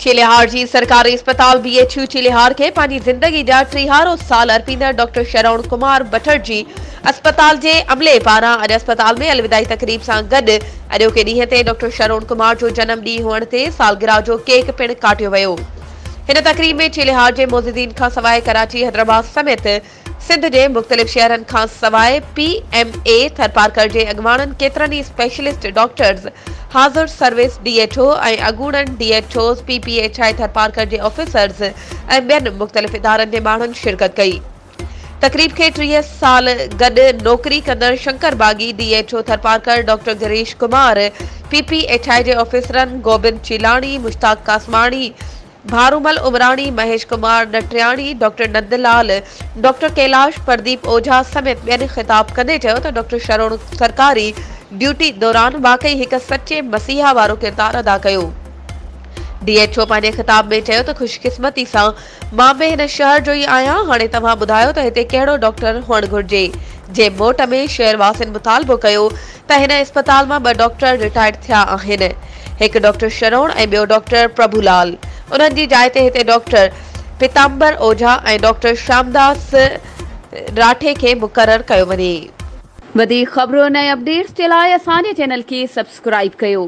چيلهار جي سرڪاري اسپتال بي ايڇ يو چيلهار کي پنهنجي زندگي جا ٽيهارو سال ارپيندڙ ڊاڪٽر شرون ڪمار بٺڙ جي اسپتال جي عملي پاران اڄ اسپتال ۾ الوداعي تقريب سان گڏ اڄوڪي ڏينهن تي ڊاڪٽر شرون ڪمار جو جنم ڏينهن هئڻ تي سالگرهه جو ڪيڪ پڻ ڪاٽيو ويو هن تقريب ۾ چيلي هاٽ جي معززين کان سواء ڪراچي، حيدرآباد سميت سنڌ جي مختلف شهرن کان سواء پي ايم اي ٿرپارڪر جي اڳواڻن ڪيترن ئي اسپيشلسٽ ڊاڪٽرز حاضر سروس ڊي ايڇ او ۽ اڳوڻن D H Os P P H I Tharparkar جي آفيسرز ۽ ٻين مختلف ادارن جي ماڻهن شرڪت ڪئي. تقريب کي ٽيهه سال گڏ نوڪري ڪندڙ Shankar Baghi, D H O Tharparkar doctor Girish Kumar, P P H I جي آفيسرن گوبند چيلاڻي، مشتاق قاسماڻي، ڀارومل عمراڻي، مهيش ڪمار نٽرياڻي، ڊاڪٽر نند لال، ڊاڪٽر ڪيلاش، پرديپ اوجها سميت ٻين خطاب ڪندي چيو ته ڊاڪٽر شروڻ سرڪاري ڊيوٽي دوران واقعي هڪ سچي مسيحا وارو ڪردار ادا ڪيو. ڊي ايڇ او پنهنجي خطاب ۾ چيو ته خوش قسمتي سان مان به هن شهر جو ئي آهيان، هاڻي توهان ٻڌايو ته هتي ڪهڙو ڊاڪٽر هئڻ گهرجي؟ جي موٽ ۾ شهر واسين مطالبو ڪيو ته هن اسپتال مان ٻه ڊاڪٽر رٽائرڊ ٿيا آهن، هڪ ڊاڪٽر شرون ۽ ٻيو ڊاڪٽر پرڀو لال، انهن جي جاء تي هتي ڊاڪٽر پيتامبر اوجها ۽ ڊاڪٽر شيامداس راٺي کي مقرر ڪيو وڃي. وڌيڪ خبرون ۽ اپڊيٽس جي لاء اسان جي چينل کي سبسڪرائيب ڪيو